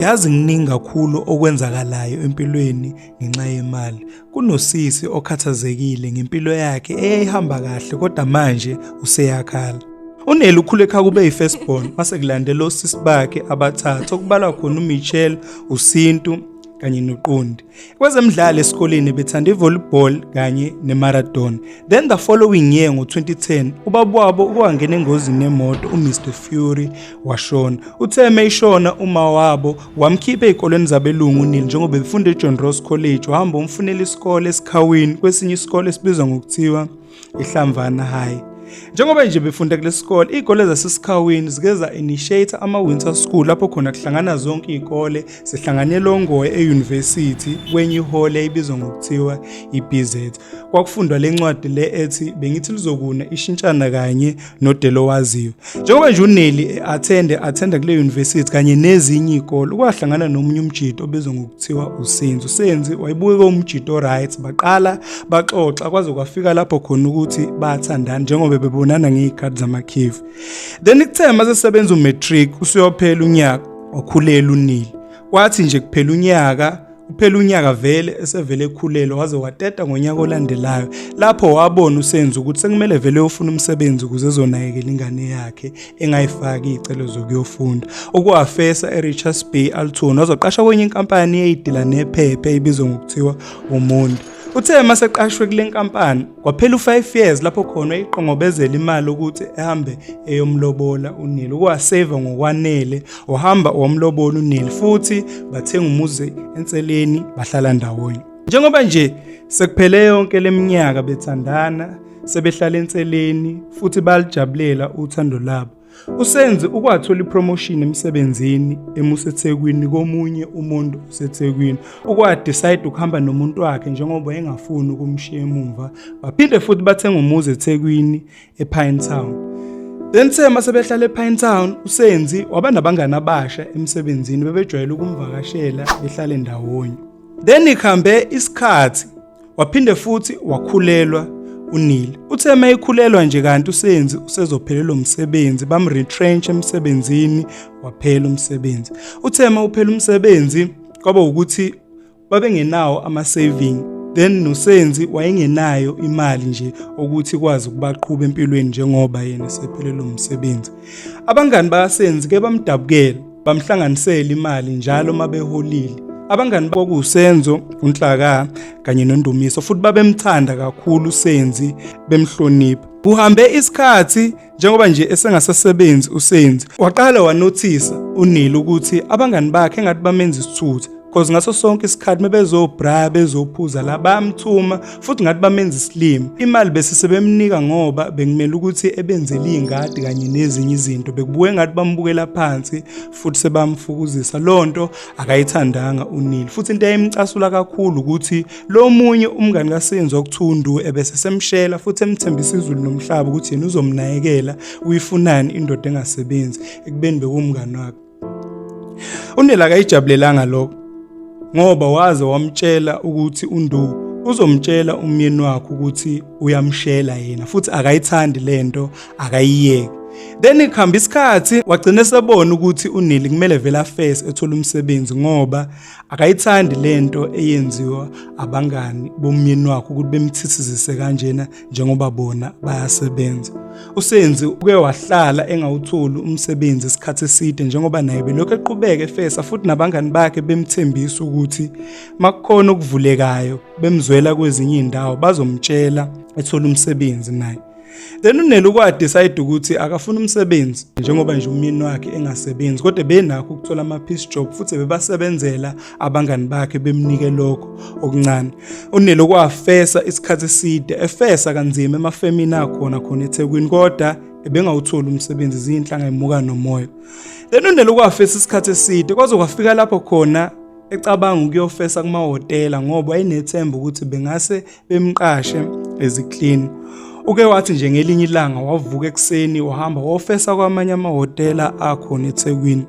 Yazi nginingi kakhulu okwenzakalayo empilweni ngenxa yemali. Kunosisi okhathazekile ngempilo yakhe eyayihamba kahle kodwa manje useyakhala. Uneli ukhule ekhaya kube yi-first born mase kulandela osisi bakhe abathathu okubalwa khona uMichelle, uSintu kanye noQondi. Kwezemidlalo esikoleni bethanda i-volleyball kanye ne-marathon. Then the following year ngo-2010 ubaba wabo ukwangena engozini yemoto uMr Fury washona. Uthe eme ishona uma wabo wamkhipha ey'koleni zabelungu unile njengoba befunda eJohn Ross College wahamba umfunela isikole esikhawini kwesinye isikole esibizwa ngokuthiwa ihlamvana hhayi njengoba nje befunda kule sikole iy'kole zasesikhawini zike za-initiate ama-winter school lapho khona kuhlangana zonke iy'kole zihlanganyela ongoye eyunivesithi kwenye ihole ibizwa ngokuthiwa i-bz kwakufundwa le ncwadi le ethi bengithi lizokuna ishintshana kanye nodela owaziyo njengoba nje uneli e-athende athenda kule university kanye nezinye iy'kole ukwahlangana nomunye umjito obizwa ngokuthiwa usenzi usenzi wayibukeka umjito right baqala baxoxa kwaze kwafika lapho khona ukuthi bathandana njengoba bebonana ngey'khathi zamakhivu then kuthe mase sebenza umatric usuyophela unyaka wakhulelwa unili wathi nje kuphela unyaka Kuphela unyaka vele esevele ekhulelwe waze wateta ngonyaka olandelayo lapho wabona uSenzi ukuthi sekumele vele ofuna umsebenzi ukuze ezonakekela ingane yakhe engayifaki izicelo zokuyofunda. Ukuwafesa eRichards Bay Alton wazoqasha kwenye inkampani eyidila nephephe ibizwa ngokuthiwa uMondi. Uthe uma seqashwe kule nkampani kwaphela u-5 years lapho khona eyiqongobezela imali ukuthi ehambe eyomlobola unile ukuwaseva ngokwanele Wahamba wamlobola uNeil futhi bathenga umuzi enseleni bahlala ndawonye. Njengoba nje sekuphele yonke leminyaka bethandana, sebehlala enseleni futhi balijabulela uthando labo. usenzi ukwathola ipromotion emsebenzini emusethekwini komunye umuntu usethekwini ukwadecide ukuhamba nomuntu wakhe njengoba engafuni ukumshiya emumva baphinde futhi bathenga umuzi ethekwini ePinetown. Bensema sebehlala ePinetown, uSenzi waba nabangani abasha emsebenzini bebejwayele ukumvakashela behlale ndawonye. Then ikhambe isikhathi waphinde futhi wakhulelwa unile. Uthe uma ekhulelwa nje kanti uSenzi usezophelelwa umsebenzi bamretrench emsebenzini waphela umsebenzi. Uthe uma uphela umsebenzi kwaba ukuthi babengenawo ama saving then nosenzi wayengenayo imali nje ukuthi kwazi ukubaqhuba empilweni njengoba yena sephelelo umsebenzi abangani bakasenzi ke bamdabukela bamhlanganisela imali njalo mabeholile abangani kwakusenzo unhlaka kanye nondumiso futhi babemthanda kakhulu senzi bemhlonipha kuhambe isikhathi Njengoba nje esengasasebenzi uSenzi, waqala wanothisa uNeil ukuthi abangani bakhe engathi bamenza isithutha cause ngaso sonke isikhathi mebezobra bezophuza la bayamthuma futhi ngathi bamenza isilima imali bese sebemnika ngoba bekumele ukuthi ebenzele iy'ngadi kanye nezinye izinto bekubuke ngathi bambukela phansi futhi sebamfukuzisa loo nto akayithandanga unili futhi into eyayimcasula kakhulu ukuthi Lo munye umngani kaSenzo okuthundu ebese semshela futhi emthembisa izulu nomhlaba ukuthi yena uzomnayekela uyifunani indoda engasebenzi ekubeni bekumngani wakhe. Unela akayijabulelanga lokho ngoba waze wamtshela ukuthi uNdu uzomtshela umyeni wakhe ukuthi uyamshela yena futhi akayithandi lento akayiyeki then ikuhamba isikhathi wagcina sebona ukuthi unili kumele vele afese ethola umsebenzi ngoba akayithandi le nto eyenziwa abangani bomyeni wakho ukuthi bemthithizise kanjena njengoba bona bayasebenza usenzi uke wahlala engawutholi umsebenzi isikhathi eside njengoba naye belokhu eqhubeke efesa futhi nabangani bakhe bemthembisa ukuthi makukhona okuvulekayo bemzwela kwezinye izindawo bazomtshela ethola umsebenzi naye then unele ukwadecide ukuthi akafuna umsebenzi njengoba nje umyeni wakhe engasebenzi kodwa benakho ukuthola ama-peace job futhi bebasebenzela abangani bakhe bemnike lokho okuncane unele okwafesa isikhathi eside efesa kanzima emafemini akhona khona ethekwini kodwa ebengawutholi umsebenzi ziyinhlanga imuka nomoya then unele okwafesa isikhathi eside kwaze kwafika lapho khona ecabanga ukuyofesa kumahhotela ngoba wayinethemba ukuthi bengase bemqashe eziclean uke wathi nje ngelinye ilanga wavuka ekuseni wahamba wofesa kwamanye amahhotela akhona eThekwini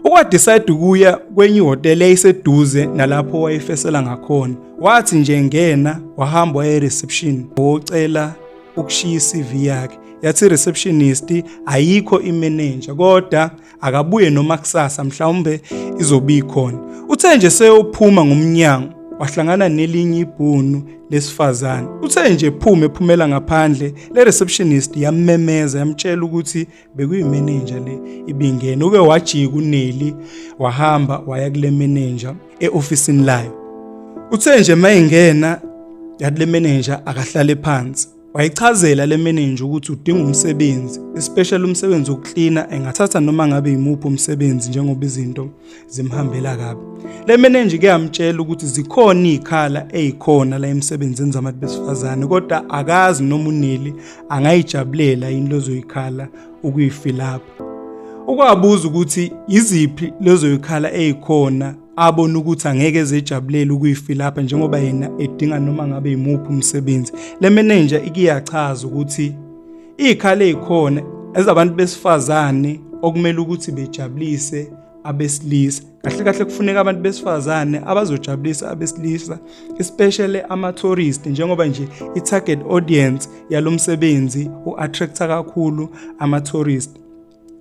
ukwadecide ukuya kwenye ihhotela eyiseduze nalapho wayefesela ngakhona wathi nje ngena wahamba waye reception wocela ukushiya i-CV yakhe yathi receptionist ayikho imenenja kodwa akabuye noma kusasa mhlawumbe izobe ikhona uthe nje seyophuma ngomnyango wahlangana nelinye ibhunu lesifazane uthe nje phume phumela ngaphandle le receptionist yammemeza yamtshela ukuthi bekuyi manager le ibingene uke wajika uneli wahamba waya kule manager eofisini layo uthe nje mayengena yathi le manager akahlale phansi Wayichazela le manager ukuthi udinga umsebenzi, especially umsebenzi wokuklina, engathatha noma ngabe yimuphi umsebenzi njengoba izinto zimhambela kabi. Le manager ke yamtshela ukuthi zikhona izikhala ezikhona la emsebenzini zabantu besifazane kodwa akazi noma uneli angayijabulela into ozoyikhala ukuyifilapha. Ukwabuza ukuthi yiziphi lezo zikhala ezikhona abona ukuthi angeke ezejabulele ukuyifilapha njengoba yena edinga noma ngabe yimuphi umsebenzi le manager ikiyachaza ukuthi ikhale ezikhona ezabantu besifazane okumele ukuthi bejabulise abesilisa kahle kahle kufuneka abantu besifazane abazojabulisa abesilisa especially ama-tourist njengoba nje i-target audience yalo msebenzi u-attracta kakhulu ama-tourist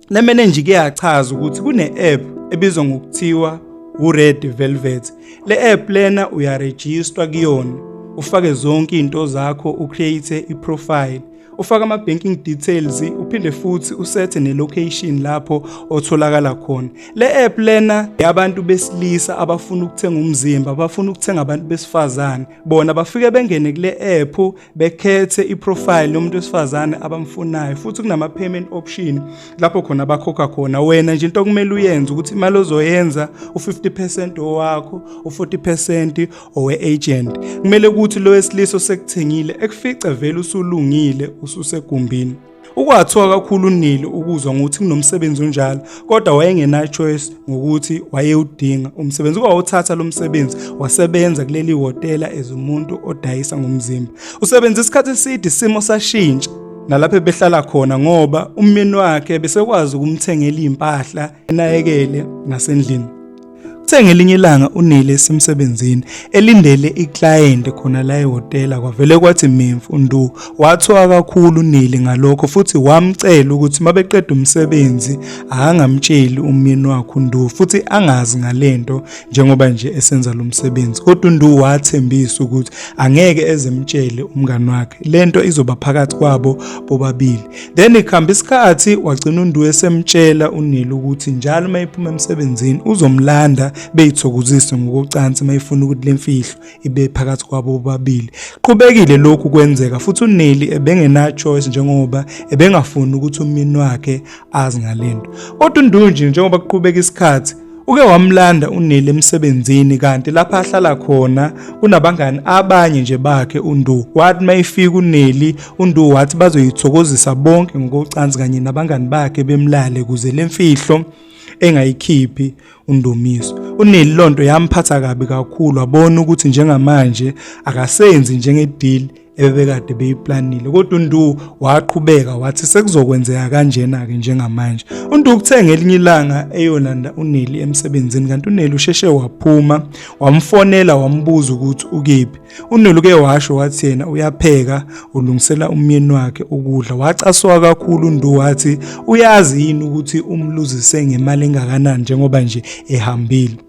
Le menenji ke yachaza ukuthi kune-app ebizwa ngokuthiwa uRed Velvet. Le app lena uyarejistwa kuyona, ufake zonke izinto zakho, ucreate iprofile ufaka ama-banking details uphinde futhi usethe ne-location lapho otholakala khona le app lena yabantu besilisa abafuna ukuthenga umzimba abafuna ukuthenga abantu besifazane bona bafike bengene kule app bekhethe iprofile yomuntu wesifazane abamfunayo futhi kunama-payment option lapho khona bakhokha khona wena nje into okumele uyenze ukuthi imali ozoyenza u-50 percent owakho u-40 percent owe-agent kumele ukuthi lo wesilisa osekuthengile ekufice vele usulungile ususegumbini Ukwathiwa kakhulu uNeil ukuzwa ngokuthi kunomsebenzi onjalo kodwa wayengenayo choice ngokuthi wayewudinga umsebenzi uba wawuthatha lo msebenzi wasebenza kuleli hotela as umuntu odayisa ngomzimba usebenza isikhathi eside isimo sashintsha nalapho behlala khona ngoba umyeni wakhe besekwazi ukumthengela impahla enayekele nasendlini Kuthe ngelinye ilanga uneli esemsebenzini elindele iclient khona la ehotela kwavele kwathi mimfu undu wathiwa kakhulu uneli ngalokho futhi wamcela ukuthi mabeqeda umsebenzi akangamtsheli umyeni wakhe undu futhi angazi ngalento njengoba nje esenza lo msebenzi kodwa undu wathembisa ukuthi angeke ezemtshele umngani wakhe lento izoba phakathi kwabo bobabili then ikuhamba isikhathi wagcina undu esemtshela unile ukuthi njalo uma iphuma emsebenzini uzomlanda beyithokoziswe ngokocansi uma ifuna ukuthi le mfihlo ibe phakathi kwabo bobabili qhubekile lokhu kwenzeka futhi unili ebengenachoice njengoba ebengafuni ukuthi umyeni wakhe azi ngalento kodwa undunji njengoba kuqhubeka isikhathi Uke wamlanda uNeil emsebenzini kanti lapha ahlala khona kunabangani abanye nje bakhe uNdu. Wathi mayifika uNeil, uNdu wathi bazoyithokozisa bonke ngokocansi kanye nabangani bakhe bemlale kuze lemfihlo engayikhiphi undumiso uneli lonto yamphatha kabi kakhulu wabona ukuthi njengamanje akasenzi njengedeal ebebekade beyiplanile kodwa uNdu waqhubeka wathi sekuzokwenzeka kanjena-ke njengamanje uNdu kuthe ngelinye ilanga eyolanda uNeli emsebenzini kanti uNeli usheshe waphuma wamfonela wambuza ukuthi ukephi uNeli uke washo wathi yena uyapheka ulungisela umyeni wakhe ukudla wacaswa kakhulu uNdu wathi uyazi yini ukuthi umluzise ngemali engakanani njengoba nje ehambile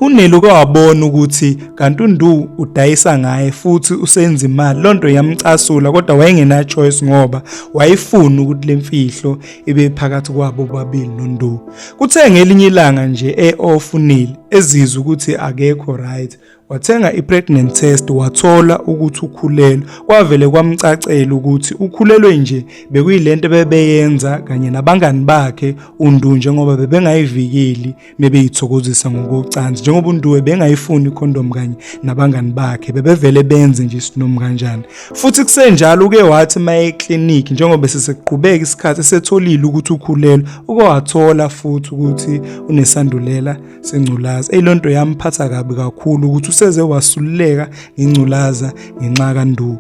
UNeli uke wabona ukuthi kanti uNdu udayisa ngaye futhi usenza imali loo nto yamcasula kodwa wayengenachoice ngoba wayefuni ukuthi le mfihlo ibe phakathi kwabo bobabili noNdu. Kuthe ngelinye ilanga nje e-off uNeli ezizwa ukuthi akekho right Wathenga i-pregnant test wathola ukuthi ukhulelwe. Kwavele kwamcacela ukuthi ukhulelwe nje bekuyilento bebeyenza kanye nabangani bakhe uNdu njengoba bebengayivikeli mebeyithokozisa ngokocansi njengoba uNdu ebengayifuni icondom kanye nabangani bakhe bebevele benze nje isinomu kanjani. Futhi kusenjalo uke wathi maye eclinic njengoba sesekuqhubeka isikhathi esetholile ukuthi ukhulelwe uke wathola futhi ukuthi unesandulela sengculaza eyilonto yamphatha kabi kakhulu ukuthi useze wasululeka ngengculaza ngenxa kanduku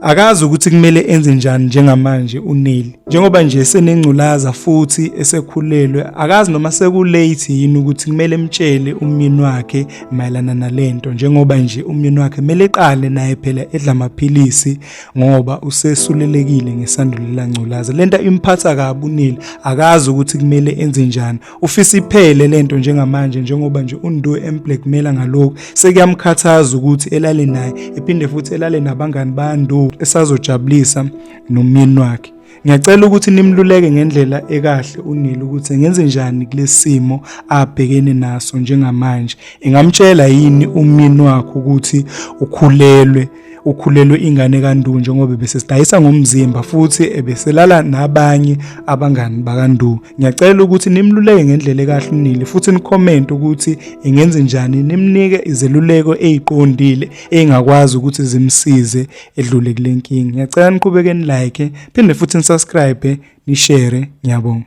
akazi ukuthi kumele enze njani njengamanje uneli njengoba nje senengculaza futhi esekhulelwe akazi noma sekulate yini ukuthi kumele emtshele umyeni wakhe mayelana nalento njengoba nje umyeni wakhe kumele eqale naye phela edla amaphilisi ngoba usesulelekile ngesandulela ngculaza lento imphatha kabi uneli akazi ukuthi kumele enze njani ufisa iphele lento njengamanje njengoba nje uNdu emblackmaila ngalokho sekuyamkhathaza ukuthi elale naye ephinde futhi elale nabangani baNdu esazojabulisa nomyeni wakhe ngiyacela ukuthi nimluleke ngendlela ekahle unile ukuthi ngenze njani kulesimo abhekene naso njengamanje ingamtshela yini umyeni wakhe ukuthi ukhulelwe ukhulelwe ingane kaNdu njengoba besesidayisa ngomzimba futhi ebeselala nabanye abangani bakaNdu. Ngiyacela ukuthi nimluleke ngendlela ekahlunile futhi nikhomente ukuthi engenze njani nimnike izeluleko eziqondile engakwazi ukuthi zimsize edlule kule nkinga. Ngiyacela niqhubeke ni like phinde futhi ni subscribe ni share ngiyabonga.